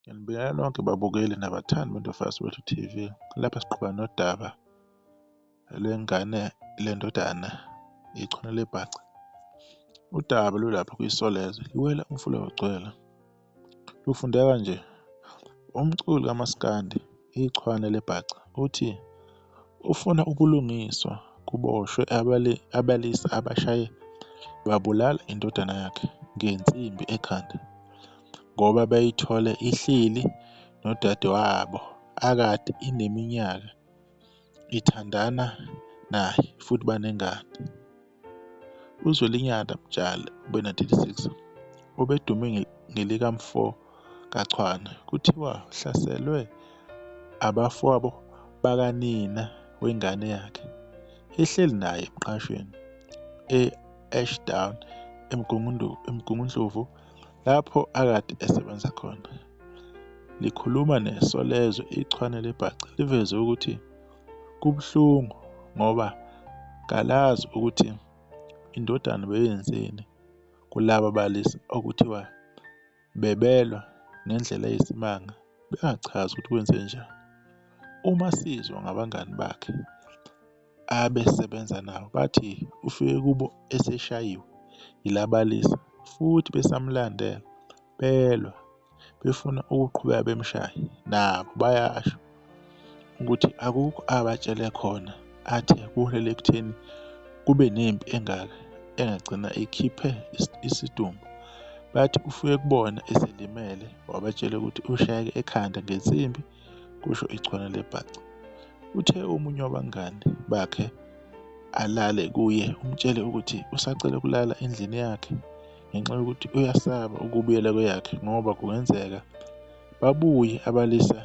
Nginibingelela nonke babukeli nabathandi boNtofoza Soweto TV. Lapha siqhuba nodaba lwengane lendodana ichwane lebhaca. Udaba lulapha kwiSolezwe, liwela umfula wagcwela. Lufundeka nje. Umculi kamaskandi, ichwane lebhaca, uthi ufuna ubulungiswa kuboshwe abalisa abashaye babulala indodana yakhe ngensimbi ekhanda ngoba beyithole ihleli nodadewabo akade ineminyaka ithandana naye futhi banengane. UZwelinyana Mtshali, obena-36, obedume ngelikamfo kaChwane, kuthiwa uhlaselwe abafowabo bakanina wengane yakhe, ehleli naye emqashweni e-Ashdown, eMgungundlovu, lapho akade esebenza khona. Likhuluma neSolezwe, iChwane libhace liveze ukuthi. Kubuhlungu ngoba kalazi ukuthi indodana beyenzeni kulaba balisa okuthiwa bebelwa ngendlela eyisimanga bengachazi ukuthi kwenze njani. Uma sizwa ngabangani bakhe abesebenza nabo bathi ufike kubo eseshayiwe yilabalisa futhi besamlandela. belwa befuna ukuqhubeka bemshaye nabo bayasho ukuthi akukho abatshele khona athe kuholela ekutheni kube nempi engaka engagcina ikhiphe isidumbu bathi ufike kubona eselimele wabatshela ukuthi ushayeke ekhanda ngensimbi kusho ichwana lebhaca uthe omunye wabangani bakhe alale kuye umtshele ukuthi usacela ukulala endlini yakhe ngenxa yokuthi uyasaba ukubuyela kweyakhe ngoba kungenzeka babuye abalisa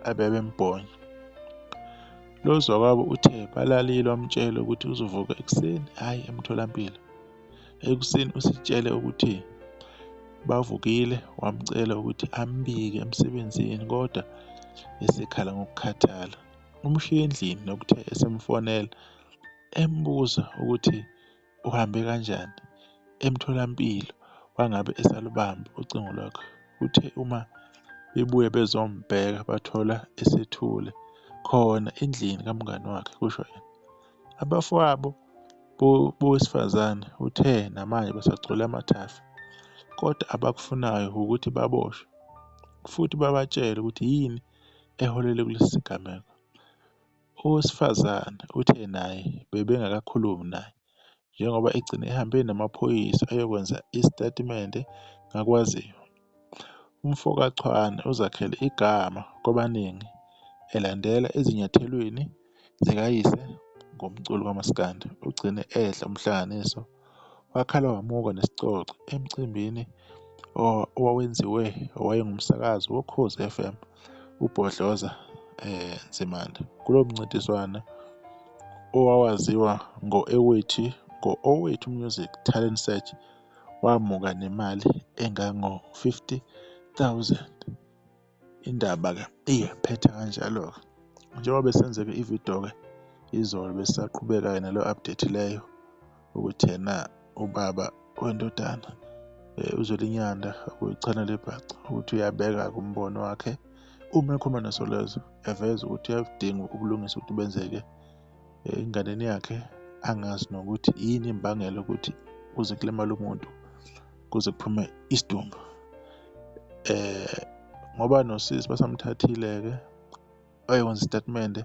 abebembhonya. Lo zakwabo uthe balalile wamtshela ukuthi uzovuka ekuseni hhayi emtholampilo. Ekuseni usitshele ukuthi bavukile wamcela ukuthi ambike emsebenzini kodwa esekhala ngokukhathala. Umshiye endlini nokuthe esemfonela embuza ukuthi uhambe kanjani emtholampilo wangabe esalubamba ucingo lwakhe. Uthe uma bebuye bezombheka bathola esethule khona endlini kamngani wakhe, kusho yena. Abafowabo bowesifazane uthe namanje basagcwele amathafa kodwa abakufunayo ukuthi baboshwe futhi babatshele ukuthi yini eholele kulesi sigameko. Owesifazane uthe naye bebengakakhulumi naye njengoba egcine ehambe namaphoyisa eyokwenza isitatimende ngakwaziyo. UmfokaChwane uzakhele igama kwabaningi elandela ezinyathelweni zikayise ngomculo kamaskandi ugcine edla umhlanganiso wakhala wamuka nesicoco emcimbini owawenziwe owayengumsakazi wokhozi FM ubhodloza eh Nzimande kulo mncintiswano owawaziwa ngo-ewethi ngo-owethu music talent search wamuka nemali engango-50 000 Indaba-ke iphethe kanjalo-ke. Njengoba besenzeke ividiyo-ke izolo besisaqhubeka-ke nalo update leyo ukuthi yena ubaba wendodana uZwelinyanda uyichana lebhaca ukuthi uyabeka-ke umbono wakhe uma ekhuluma noSolezwe eveza ukuthi uyakudinga ubulungisa ukuthi benzeke enganeni yakhe angazi nokuthi yini imbangela ukuthi kuze kulimale umuntu. kuze kuphume isidumbu eh ngoba nosisi basamthathile-ke wayokwenza isitatimende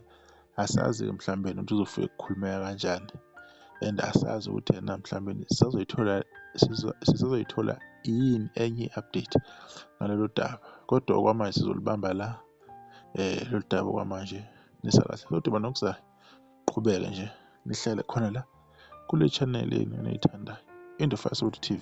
asazi-ke mhlawumbe ukuthi uzofika ukukhulumeka kanjani and asazi ukuthi yena mhlawumbe sisazoyithola sisazoyithola yini enye i-update ngalolu daba kodwa okwamanje sizolibamba la um lolu daba okwamanje nisakahle soduma nokuzayo qhubeka nje nihlale khona la kule channel yenu eniyithandayo into Facebook TV